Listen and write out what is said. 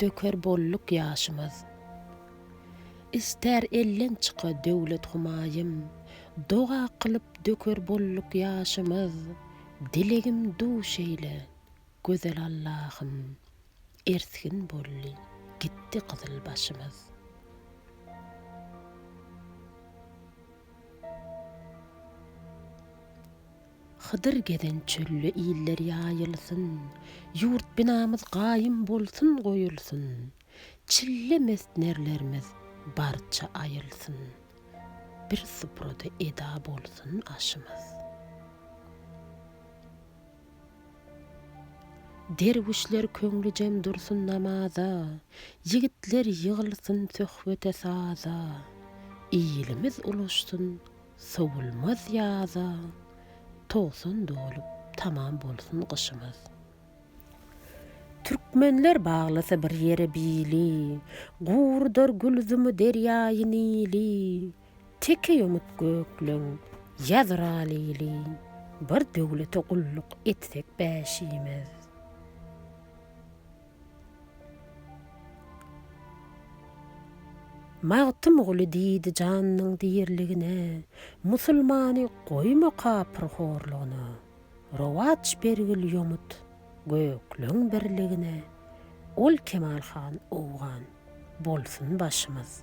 Döker bolduk ýaşymyz. Ister elleň çyka döwlet humaýym, Doga kylyp döker bolduk ýaşymyz, Dilegim duş eýle, gözel Allahym, Ersgin boldy, gitdi gyzyl başymyz. Hydyr gezen çölde iller ýaýylsyn, Ýurt binamyz gaýym bolsun goýulsyn, Çille mest nerlerimiz barça aýylsyn, Bir suprada eda bolsun aşymyz. Derwüşler köňlüjem dursun namaza, Ýigitler ýygylsyn söhbete-saza, Ilimiz ulaşsyn Sowulmaz ýaza togsan dolup tamam bolsun gyşymyz. Türkmenler baglasa bir ýere bili, Gurdar gülzumy derýaýy Nili, Teke ýomut gökleň ýazra lili, Bir döwlete gulluk etsek bäşimiz. Magtymguly diýdi janynyň diriligine, Musulmany goýma kapyr horlugyna. Rowaç bergil ýomut gökleň birligine, Ol Kemal han owgan bolsun başymyz.